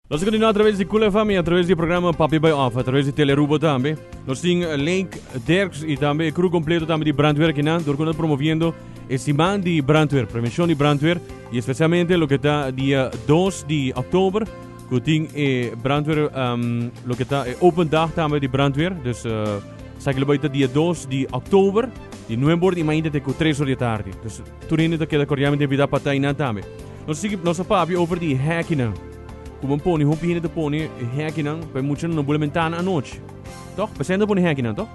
Nos a kontinua atraves di Kule FM i atraves di e programa Papi Bai Òf atraves di Telerubo tambe. Nos tin Lake Derks i tambe e kru kompleto tambe di brandweer akinan dor ku nos promoviendo e siman di brandweer, prevenshon di brandweer i espesialmente loke ta dia dos di òktober ku tin e brandweer loke ta e open dag tambe di brandweer. Dus esaki lo bai ta dia dos di òktober di nuebe ora di mainta te ku tres ora di atardi. Dus tur hende ta keda kordialmente invitá pa ta einan tambe. Nos sigui, nos a papia over di hekkinan. Ku men pone, hopi hende ta pone hekkinan pa e muchanan no bula mentana anochi. Tok? Pa sento pone hekkinan, tok?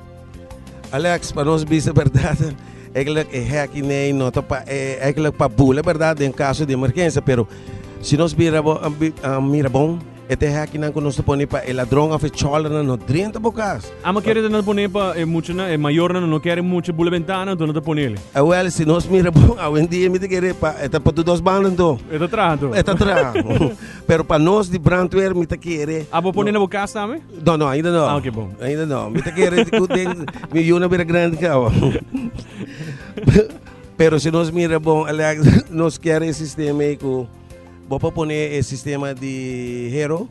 Alex, pa nos bisa berdad, eigenlijk e hekkinan no ta pa, e, eigenlijk pa bula berdad den kaso di emergensia, pero si nos bira bon, mira bon, E te hèknan ku nos ta pone pa e ladron òf e chòlranan no drenta bo kas. Amo kere ta nan pone pa e muchanan, e mayornan nan no kere mucha bula bentana, anto nan ta pone ele. Awèl, si nos mira bon awendia mi ta kere pa e ta pa tur dos banda anto. E ta traha anto. E ta traha. Pero pa nos di brandweer mi ta kere. A bo pone na bo kas tambe? No, no, ainda no. Ah, ok, bon. Ainda no. Mi ta kere ku den mi yu na bira grandi kawa. Pero si nos mira bon Alex, nos kere e sistema ei ku. Bo por pone e sistema di hero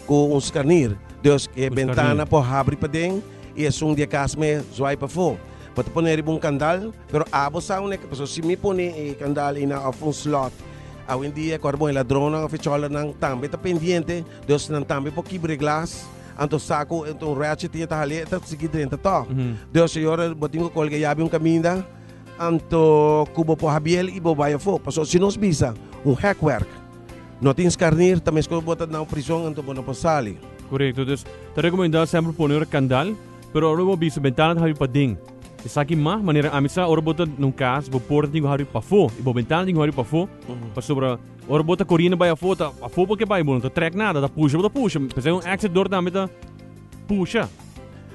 cu un scanir. Dus e bentana por habri paden y esun di e cas me zwaai pafo. Bo ta pone riba un candal, pero abo sa awe ke paso. Si mi pone e candal ina of un slot, awendia cu bon e ladronnan of e choldernan tambe ta pendiente, dus nan tambe por kibra e glas, anto sa cu un ratchet tin e ta hale e ta sigui drenta to. Dus e ora bo tin cu colga e yabi un caminda, Anto cu bo por habiel y bo bay afo. Pasobra si nos bisa un hekwerk no tin skarnir, ta meskos bo ta nau prizon anto bo no por sali. Corecto. Dus ta recomenda semper pone ora candal, pero ora bo bisa bentana ta habri paden. Esaki mas manera ami sa ora bo ta na un cas, bo porta tin cu habri pafo y bo bentana tin cu habri pafo, pasobra ora bo ta coriendo bay afo ta afo bo ke bay, bo no ta trek nada, ta pusha bo ta pusha, p'esei un exit door tambe ta. pusha,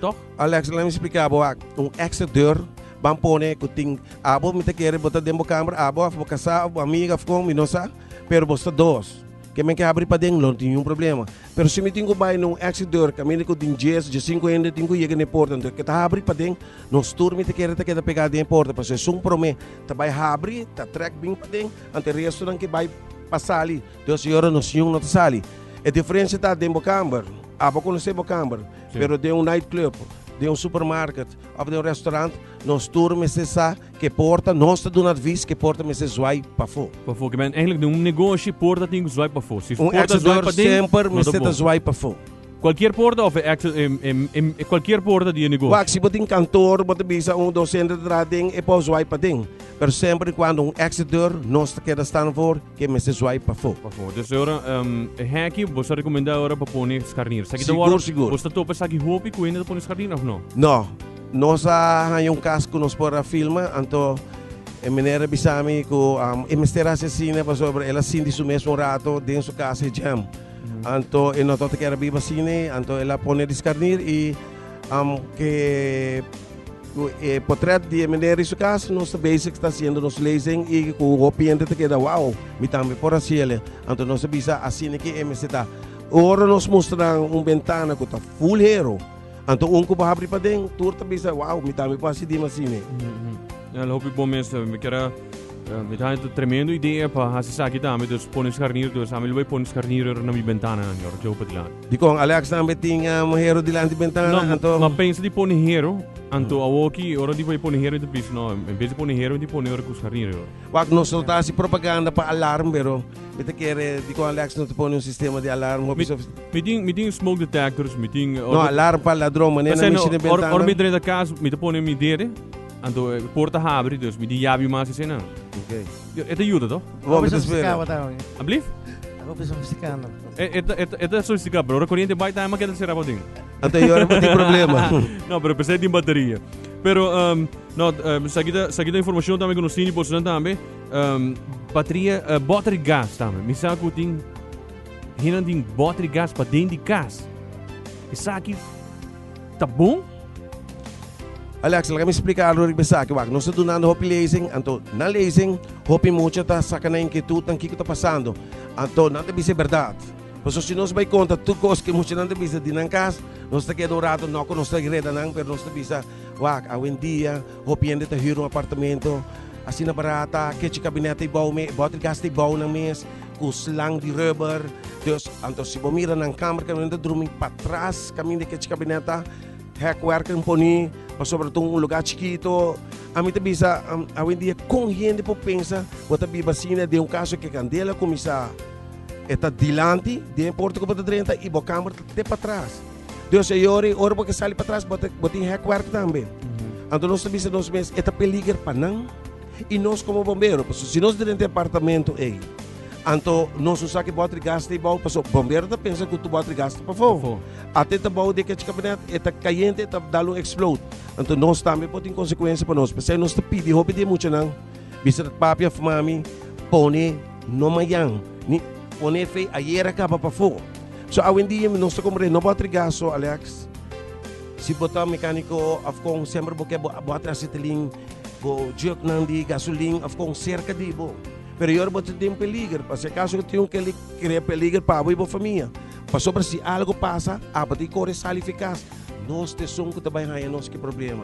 tòg? Alex, Lami spliká bo ak, un èkstra deur ban pone ku tin abo, mi ta kere bo ta den bo kamber, abo òf bo kasá òf bo amiga òf kon, mi no sa, pero bo sta dos, ke men ke habri paden, lo tin niun problema. Pero si mi tin ku bai na un èkstra deur kaminda ku tin djes òf djasinku hende tin ku yega na e porta anto ke ta habri paden, nos tur mi ta kere ta keda pegá den e porta, pasobra esun promé ta bai habri, ta trèk bin paden, anto e restonan ke bai pa sali. Dios e ora nos yunan ta sali. E diferencia ta den bo camber. A bo conoce bo camber. Sí. Pero den un night club, den un supermarket of den un restaurant, nos tur mester sa ke porta nos ta duna advies ke porta mester zwaai pafo. Pafo, ke men eigenlijk den un negoshi porta tin ku zwaai pafo. Si Un porta exit zwaai door pa den, semper no ta mester ta bon. zwaai pafo. Cualkier porta of e exit em, em, em, e cualkier porta di e negoshi. Wak si bo tin kantoor, bo ta bisa un dos hende ta traha den, e por zwaai pa den. Pero semper i cuando un exit door nos ta keda staan voor, Ke mester swipe pafó. Pafó. Dus ora e heki bo ta rekomendá ora pa pone skarnir. Esaki ta wòrdu. Sigur, sigur. Bo ta topa esaki hopi ku hende ta pone skarnir òf no? No. Nos a haña un kas ku nos por a filma, anto e meneer a bisa mi ku e mester hasi asina pasobra el a sinti su mes un rato den su kas e jam. Anto e no tabata kier a biba asina, anto el a pone di skarnir i ke Cu e potret di e meneer di su cas nos ta bezig ta haciendo nos lezing y cu hopi hende ta keda wow, mi tambe por haciele. Anto nos a bisa asina ki e mester ta. Ora nos mustra nan un bentana cu ta full hero, anto un cu bo habri paden tur ta bisa wow, mi tambe por haci dima asine. Al hopi bon mester, mi keda, mi ta haya tremendo idea pa haci esaki tambe, dus pone scharnier, dus ami lo bay pone scharnier na mi bentananan, yo lo ke hopi di laat. Dikon Alex tambe tin hero dilanti bentana? No, anto. M'a pensa di pone hero, anto awor aki ora di bai pone hero inter piso, no, en bes di pone hero mi ta pone ora ku skarina dor. Wak, nos lo ta hasi propaganda pa alarm, pero mi ta kere dikon Alex no ta pone un sistema di alarm hopi sofis. Mi tin, mi tin smoke detectors, mi tin. No, alarm pa ladron, manera nan mishi den bentana. Ora mi drenta kas, mi ta pone mi dede, anto por ta habri, dus mi di yabi mas esenan. Ok. E ta yuda, to. Hopi sofistikado bo ta hopi. Ablief? Hopi sofistikado. E, e, ta- e, ta- e ta sofisticado, pero ora corriente bai también ma keda será pa ding. Ante yo no di problema. No, pero pensé din batería. Pero, um, no, um, sakita, sakita información también que nos tiene por zonan también. Um, batería, uh, battery gas también. Mi sa ku tin, hinan tin battery gas pa den di gas. Isaki ta bon? Alex, laga mi splika algo riba esaki. Wak, nos ta dunando hopi lezing, anto na lezing hopi mucha ta saka nan inkietutnan kiko ta pasando. Anto nan ta bisa e bèrdat. Pasobra si nos bai konta tur kos ku e muchanan ta bisa di nan kas, nos ta keda un ratu, no ku nos ta reda nan, pero nos ta bisa, Wak, awendia hopi hende ta hür un apartamento. Asina barat ta, kechi kabinèt ta ei bou mes, e bòter gas ta ei bou nan mes. cu slang di rubber, dus anto si bo mira nan kamer ke nan ta drumi patras kaminda e kechi kabineta hek werk en poni pasobra ta un luga chikito a mi ta bisa awendia kon hende por pensa bo ta biba asina den un kaso ke kandela kumisa e ta dilanti den porta ku bo ta drenta i bo kamer ta te patras dus e yori ora bo ke sali patras bo tin hek werk tambe anto nos ta bisa nos mes e ta peliger pa nan. I nos komo bombero, pasobra si nos ta den departamento ei, anto nos no sa ke bòtri gas ta e bou, pasobra bombero ta pensa ku tur bòtri gas ta pafó. Pafó. Ate ta bou di kech kabinet, e ta kayente, e ta dal un eksplod. Anto nos tambe por tin konsekuensia pa nos. P'esei nos ta pidi hopi di e muchanan, bisa ta papia òf mami, pone no mayan, ni pone e fei ayer a kaba pafó. So awendia mi nos ta komprende no bòtri gas so, Alex, si bo ta mekaniko òf kon, semper bo ke bo bo a trese tilin. Bo jyoknan di gasolin a kon serka di bo, pero i ora bo ta den peliger. Pa si akaso bo tin un kende ki krea peliger pa bo i bo famia. Pasobra si algu pasa, abo tin kore sali fikas. Nos ta esun ku ta bai haña nos ku e problema.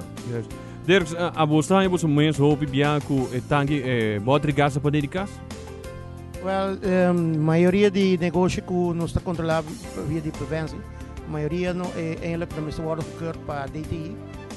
Dirks, abo sa haña bo su mes hopi bia ku e tanki e bòter di gas apat'é di kas? Wèl, mayoria di negoshi ku nos ta kontrolá pa via di prevensi, mayoria no e eindelijk ta mester wòrdu goedkeurd pa DTI.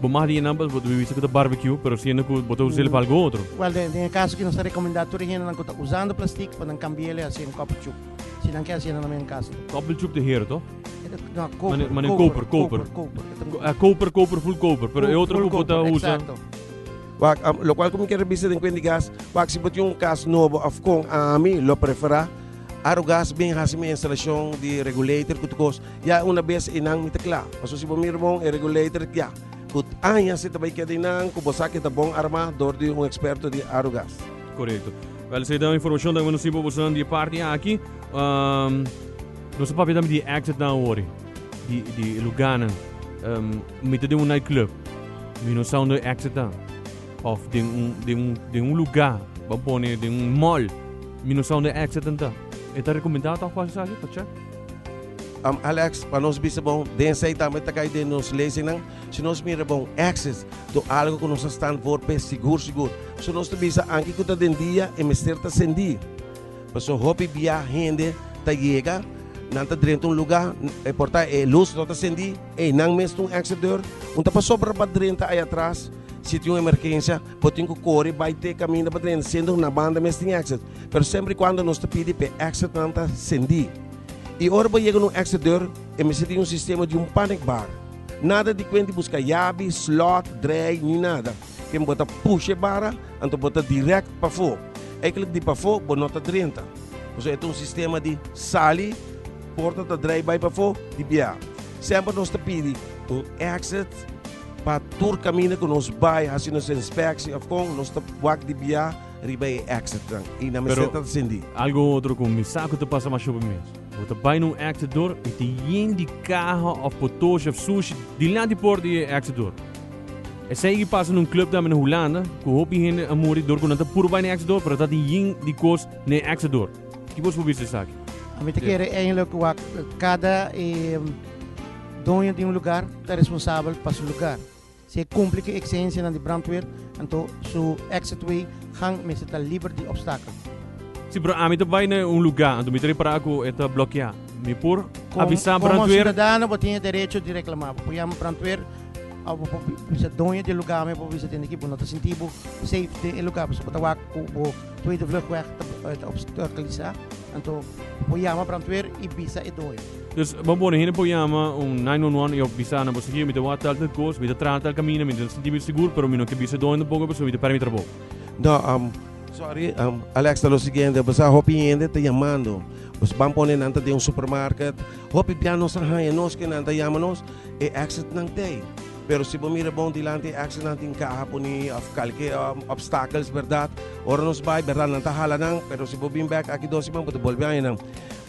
Bo mas di e numbers bo ta bibisi cu ta barbecue, pero siendo cu bo ta us'el pa algo otro. Well, den e caso aki nos ta recomenda tur e hendenan cu ta usando plastic pa nan cambia'l haci en copper chup, si nan ke haci nan mey un casa ta. Copper chup ta hero toh? No, coper, Mane coper, coper, coper, coper, coper, e ta un coper. Coper, coper, full coper, pero e otro cu bo ta usa. Full coper, exacto. Wak, am, locual cu mi ke rebisa den cuenta di gas, wak, si bo tin un cas nobo of con ami lo prefera, Arogas bin haci mi instalacion di regulator cu tur cos. Ya e una bes einan mi ta kla. Paso si bo mira bon e regulator tia ku aña si ta bai keda einan ku bo sa ku e ta bon armá dor di un eksperto di Arugas. Korekto. Bel esei ta e informashon tak mi no si bo boso nan di e parti aki. Nos a papia tambe di e exit nan awor, di e lugánan. Mi ta den un night club, mi no sa unda e exit ta. Òf den un den un den un lugá, bo a pone den un mall, mi no sa unda e exit an ta. E ta rekomendá tòg pa hasi esaki pa chèk? Am Alex, pa nos bisa bon, den esei tambe ta kai den nos leysinan, si nos mira bon, exes, do algo ku nos a stan for p'e sigur sigur. So nos ta bisa anke ku ta den dia e mester ta sendí. Pasobra hopi bia hende ta yega, nan ta drenta un lugá, e porta, e lus no ta sendí, einan mes ta un exit deur, un ta pasobra pa drenta ayatras si tin un emergensia, Bo tin cu core bay te caminda pa drenta siendo na banda mes tin exit, pero semper y cuando nos ta pidi pa e exitnan ta cendi. Y ora bo yega na un exit deur, e mester tin un sistema di un panic bar. Nada di cuenta di busca yabi, slot, draai ni nada. Ken bo ta pusha e barra, anto bo ta direct pafo. Eigenlijk di pafo bo no ta drenta. Pasobra e ta un sistema di sali, porta ta draai bay pafo, di bia. Semper nos ta pidi un exit. Pa tur kaminda ku nos bai hasi nos inspekshi òf kon, nos ta wak di bia riba e èksitnan i nan mester ta sindi. Algu otro ku mi sa ku ta pasa masha hopi mes. Bo ta bai na un èksitdor i ta yen di kaha òf potoshi òf sushi dilanti di por di e èksitdor. Esei i pasa na un klub tambe na Hulanda ku hopi hende a muri dor ku nan ta puru bai na e èksitdor pero ta tin yen di kos na e èksitdor. Ki bo su bisa di esaki? Mi ta kere eindelijk wak kada e. Doño di un lugar ta responsabel pa su lugar. Si e kumpli ku e eksigensianan di brandweer, anto su exitway gang mester ta liber di opstakelen. Si broer ami ta bai na un lugá, anto mi ta repará ku e ta blokeá. Mi por avisá brandweer. Komo siudadano bo tin e derecho di reklamá. Bo por yama brandweer òf bo por bisa doño di e lugá, mi a por bisa tende ki bo no ta sinti bo safe den e lugá pasobra bo ta wak ku bo. Tweede vluchtweg ta obstaculisá, anto bo yama brandweer i bisa e doño. Dus bo pone hende pa yama un nine one one i òf bisa nan, bo sikiu mi ta wak talter kos, mi ta trata al kaminda mientras mi ta sinti mi sigur, pero mi no ke bisa e doño tampoco pasobra mi ta pèrdè mi trabou. No, sorry, Alex ta lo siguiente, bo sa hopi hende ta yamando nos, ban pone nan ta den un supermarket, hopi bia nos a haña nos ke nan ta yama nos, e exitnan t'ei. Pero si bo mira bon dilanti e axenan tin kaha puni of kalke obstakels berdad ora nos bai berdad nan ta hala nan pero si bo bin bek aki dos siman bo ta bolbe haña nan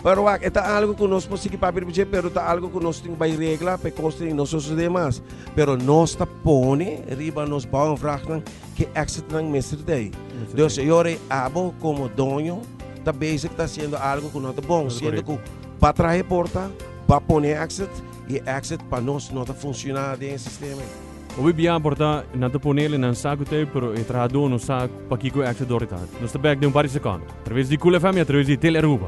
pero wak e ta algo ku nos por sigui papia riba dje pero ta algo ku nos tin ku bai regla pa e kos tin no sosode mas pero nos ta pone riba nos bouw en vraag nan ke exitnan mester ta ei dus e ora ei abo komo doño ta bezig ta hasiendo algo ku no ta bon siendo ku ba traha e porta ba pone exit. E access pa nos no ta funciona den e sistema ei. Hopi bia por ta nan ta pone ele nan saku tape pero e trahador no sa pakico e access door e ta. Nos ta bek den un par di secondo. A traves di Cool FM y a traves di Telearuba.